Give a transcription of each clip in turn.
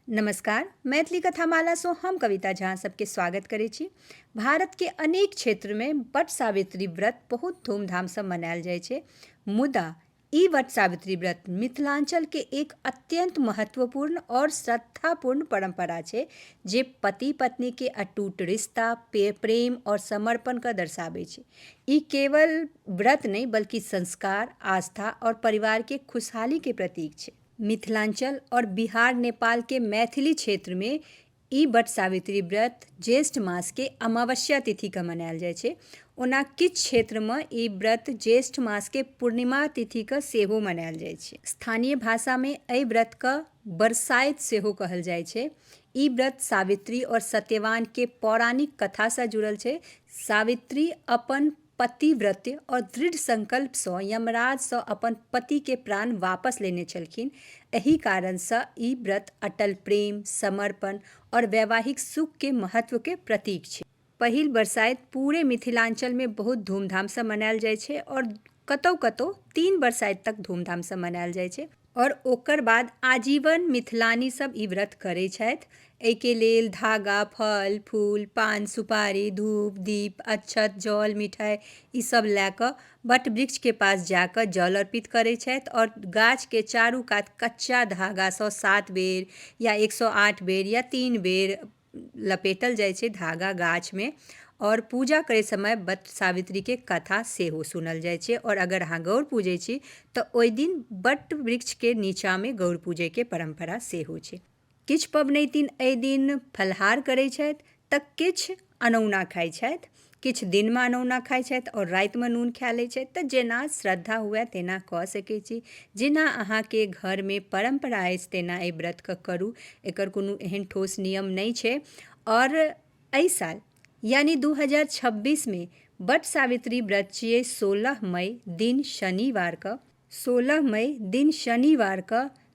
नमस्कार मैथिली कथामालासँ हम कविता झा सबके स्वागत करै छी भारतके अनेक क्षेत्रमे वट सावित्री व्रत बहुत धूमधामसँ मनायल जाइ छै मुदा ई वट सावित्री व्रत मिथिलाञ्चलके एक अत्यन्त महत्वपूर्ण आओर श्रद्धापूर्ण परम्परा छै जे पति पत्नीके अटूट रिश्ता पे- प्रेम आओर समर्पणके दर्शाबै छै ई केवल व्रत नहि बल्कि संस्कार आस्था आओर परिवारके खुशहालीके प्रतीक छै मिथिलाञ्चल आओर बिहार नेपालके मैथिली क्षेत्रमे ई वट सावित्री व्रत ज्येष्ठ मासके अमावस्या तिथिके मनाएल जाइ छै ओना किछु क्षेत्रमे ई व्रत ज्येष्ठ मासके पूर्णिमा तिथिके सेहो मनाएल जाइ छै स्थानीय भाषामे एहि व्रतके बरसाइत सेहो कहल जाइ छै ई व्रत सावित्री आओर सत्यवानके पौराणिक कथासँ जुड़ल छै सावित्री अपन पतिव्रत्य और दृढ़ संकल्प सँ यमराज सँ अपन पति के प्राण वापस लेने छलखिन। एहि कारण सँ ई व्रत अटल प्रेम, समर्पण और वैवाहिक सुख के महत्व के प्रतीक छै। पहिल बरसाइत पूरे मिथिलांचल में बहुत धूमधाम सँ मनायल जाय छै और कतौ-कतौ तीन बरसाइत तक धूमधाम सँ मनायल जाय छै। आओर ओकर बाद आजीवन मिथिलानी सब ई व्रत करै छथि एहिके लेल धागा फल फूल पान सुपारी धूप दीप अक्षत जल मिठाइ ई सब लए कऽ वट वृक्षके पास जा कऽ जल अर्पित करै छथि आओर गाछके चारू कात कच्चा धागासँ सात बेर या एक सए आठ बेर या तीन बेर लपेटल जाइ छै धागा गाछमे आओर पूजा करै समय बट सावित्रीके कथा सेहो सुनल जाइ छै आओर अगर अहाँ गौर पूजै छी तऽ ओहि दिन बट वृक्षके नीचाँमे गौर पूजैके परम्परा सेहो छै किछु पबनैतिन एहि दिन फलाहार करै छथि तऽ किछु अनौना खाइ छथि किछु दिनमे अनौना खाइ छथि आओर रातिमे नून खा लै छथि तऽ जेना श्रद्धा हुए तेना कऽ सकै छी जेना अहाँके घरमे परम्परा अछि तेना एहि व्रतके करू एकर कोनो एहन ठोस नियम नहि छै आओर एहि साल यानि दू हजार छब्बीसमे बट सावित्री व्रत छियै सोलह मइ दिन शनिवारके सोलह मइ दिन शनिवारके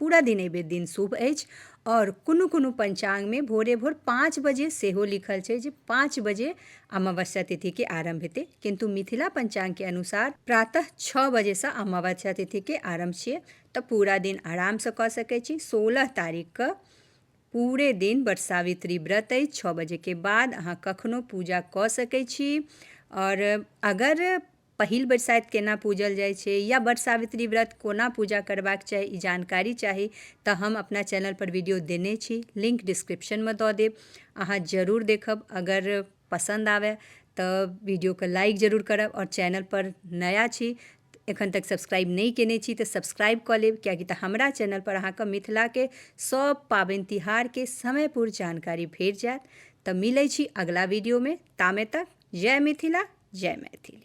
पूरा दिन एहिबेर दिन शुभ अछि आओर कोनो कोनो पञ्चाङ्गमे भोरे भोर पाँच बजे सेहो लिखल छै जे पाँच बजे अमावस्या तिथिके आरम्भ हेतै किन्तु मिथिला पञ्चाङ्गके अनुसार प्रातः छओ बजेसँ अमावस्या तिथिके आरम्भ छियै तऽ पूरा दिन आरामसँ कऽ सकै छी सोलह तारीखके पूरे दिन बट सावित्री व्रत अछि छओ बजेके बाद अहाँ कखनो पूजा कऽ सकै छी आओर अगर पहिल बरसाइत केना पूजल जाइ छै या बट सावित्री व्रत कोना पूजा करबाक चाही ई जानकारी चाही तऽ हम अपना चैनलपर वीडियो देने छी लिंक डिस्क्रिप्शनमे दऽ देब अहाँ जरूर देखब अगर पसन्द आबय तऽ वीडियोके लाइक जरूर करब आओर चैनलपर नया छी एखन तक सब्सक्राइब नहि केने छी तऽ सब्सक्राइब कऽ लेब किएकि तऽ हमरा चैनलपर अहाँके मिथिलाके सभ पाबनि तिहारके समयपूर्ण जानकारी भेट जायत तऽ मिलै छी अगिला वीडियोमे तामे तक जय मिथिला जय मैथिली